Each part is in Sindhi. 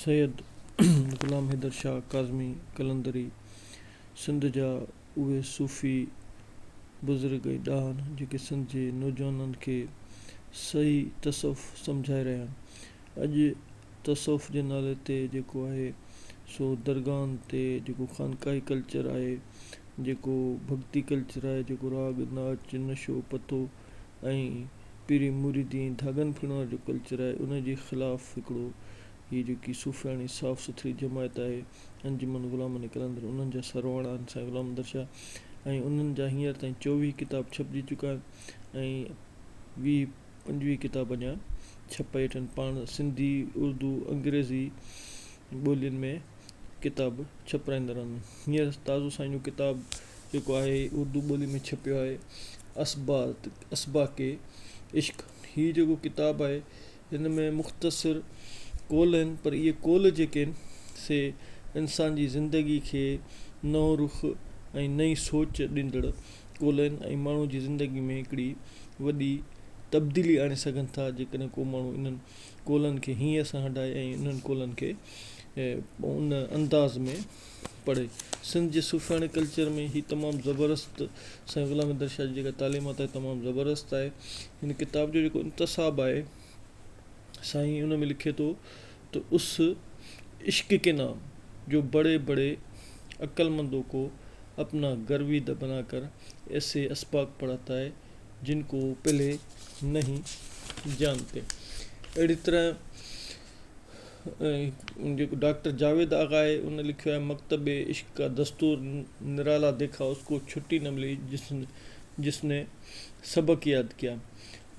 سيد غلام حيدر شاهه ڪاظمي قلندري سنڌ جا اهي صوفي بزرگ ۽ ڏاهن جيڪي سنڌ جي نوجوانن کي صحيح تصوف سمجهائي رهيا آهن. اڄ تصوف جي نالي تي جيڪو آهي سو درگاهن تي جيڪو خانقاهي ڪلچر آهي جيڪو ڀڳتي ڪلچر آهي جيڪو راڳ ناچ نشو پتو ۽ پيري مريدين ڌاڳن ڦرڻ وارو جيڪو ڪلچر آهي ان جي خلاف هڪڙو هي جيڪي صوفياڻي صاف سٿري جماعت آهي انجمن غلامن قلندر انهن جا سرواڻا آهن سائين غلام احمد شاهه ۽ انهن جا هينئر تائين چوويهه ڪتاب ڇپجي چڪا آهن ۽ ويهه پنجويهه ڪتاب اڃان ڇپائي ويٺا آهن پاڻ سنڌي اردو انگريزي ٻولين ۾ ڪتاب ڇپرائيندا رهندا آهن هينئر تازو سائين جو ڪتاب جيڪو آهي اردو ٻولي ۾ ڇپيو آهي اسبات اسباق عشق هي جيڪو ڪتاب آهي هن ۾ مختصر قول آهن پر اهي قول جيڪي آهن سي انسان جي زندگي کي نئون رخ ۽ نئين سوچ ڏيندڙ قول آهن ۽ ماڻهو جي زندگي ۾ هڪڙي وڏي تبديلي آڻي سگهن ٿا جيڪڏهن ڪو ماڻهو انهن قولن کي هينئر سان هٽائي ۽ انهن قولن کي ۽ ان انداز ۾ پڙهي. سنڌ جي صوفياڻي ڪلچر ۾ هي تمام زبردست سائين غلام حيدر شاهه جي جيڪا تعليمات آهي تمام زبردست آهي. هن ڪتاب جو جيڪو انتساب آهي سائين ان ۾ لکي ٿو ته اس عشق ڪي نام جو بڙي بڙي عقلمندو ڪو اپنا گرويد بنا ڪر ايسي اسباق پڙهاتا هي جن ڪو پهلي نهين جانتي اهڙي طرح جيڪو ڊاڪٽر جاويد آغا آهي ان لکيو آهي مڪتب عشق ڪا دستور نرالا ديکا اس ڪو ڇٽي نه ملي جس ني سبق ياد ڪيا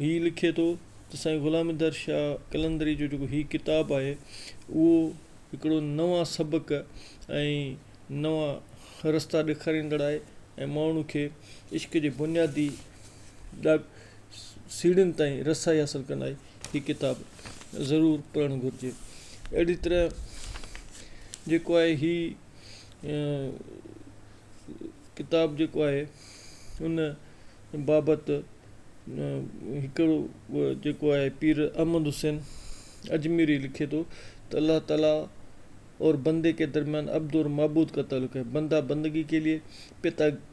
هي لکي ٿو ته سائين غلام ديدار شاهه قلندري جو جيڪو هي ڪتاب آهي اهو هڪڙو نوان سبق ۽ نوان رستا ڏيکاريندڙ آهي ۽ ماڻهو کي عشق جي بنيادي سيڙهين تائين رسائي حاصل ڪندائين هي ڪتاب ضرور پڙهڻ گهرجي اهڙي طرح جيڪو آهي هي ڪتاب جيڪو آهي ان بابت هڪڙو جيڪو آهي پير احمد حسين اجميري لکي ٿو ته الله تعالي اور بندي ڪي درميان عبد اور معبود ڪا تعلق هي بندا بندگي ڪي ليي پتا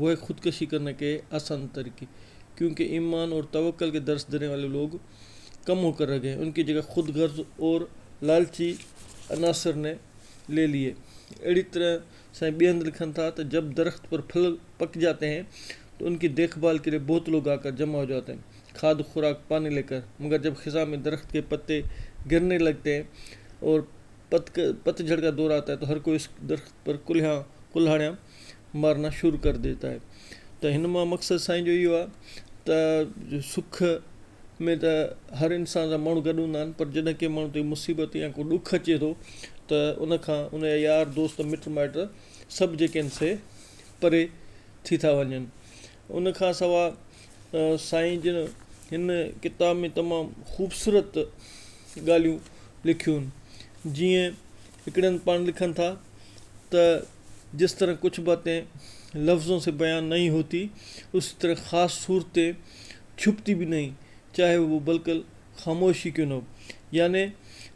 وه خودڪشي ڪرني ڪي آسان طريقي ڪيون ڪي ايمان اور توکل ڪي درس ديني والي لوگ ڪم هو ڪر رگهي هي ان ڪي جگهه خود غرض اور لالچي عناصر ني لي ليي اهڙي طرح سائين ٻيهند لکن ٿا ته جب درخت پر ڦل پڪ جاتي هين تو ان ڪي ديک ڀال ڪي ليي بهت لوگ آڪر جمع هو جاتي هين کاد خوراڪ پاني لي ڪر مگر جب خزان مي درخت ڪي پتي گرني لگتي هين اور پتجهڙ ڪا دور آتا هي تو هر ڪوئي اس درخت پر ڪلهيان ڪلهاڙيان مارنا شروع ڪر ديتا هي ته هن مان مقصد سائين جو اهو آهي ته سک ۾ ته هر انسان سان ماڻهو گڏ هوندا آهن پر جڏهن ڪنهن ماڻهو تي مصيبت يا ڪو ڏک اچي ٿو ته ان کان ان جا يار دوست مٽ مائٽ سڀ جيڪي آهن سي پري ٿي ٿا وڃن ان کان سوا سائين جن هن ڪتاب ۾ تمام خوبصورت ڳالهيون لکيون جيئن هڪڙي هنڌ پاڻ لکن ٿا ته جس طرح ڪچھ باتين لفظون سي بيان نهين هوتي اسي طرح خاص صورتين ڇپتي به نهين چاهي وو بلڪل خاموش هي ڪيون نه هو يعني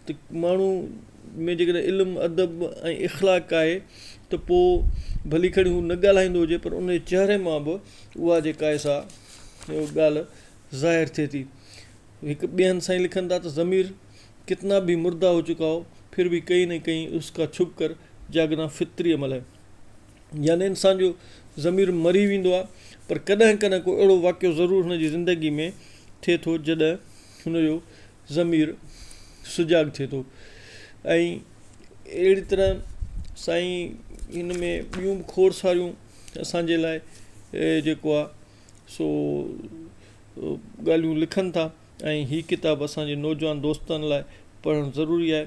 ته ماڻهو ۾ جيڪڏهن علم ادب ۽ اخلاق آهي ته پو ڀلي کڻي هو نه ڳالهائيندو هجي پر ان جي چهري مان به اها جيڪا آهي سا ڳالهه ظاهر ٿئي ٿي هڪ ٻين سائين لکن ٿا ته ضمير ڪتنا ڀي مرده هو چڪا هو ڦر ڀي ڪهين نه ڪهين اس ڪا ڇپ ڪر جاگنا فطري عمل هي يعني انسان جو ضمير مري ويندو آهي پر ڪڏهن ڪڏهن ڪو اهڙو واقعو ضرور هن جي زندگي ۾ ٿئي ٿو جڏهن هن جو ضمير سجاڳ ٿئي ٿو ۽ اهڙي طرح سائين هن ۾ ٻيون به کوڙ ساريون اسان جي لاء جيڪو آهي سو ڳالهيون لکن ٿا ۽ هي ڪتاب اسان جي نوجوان دوستن لاء پڙهڻ ضروري آهي.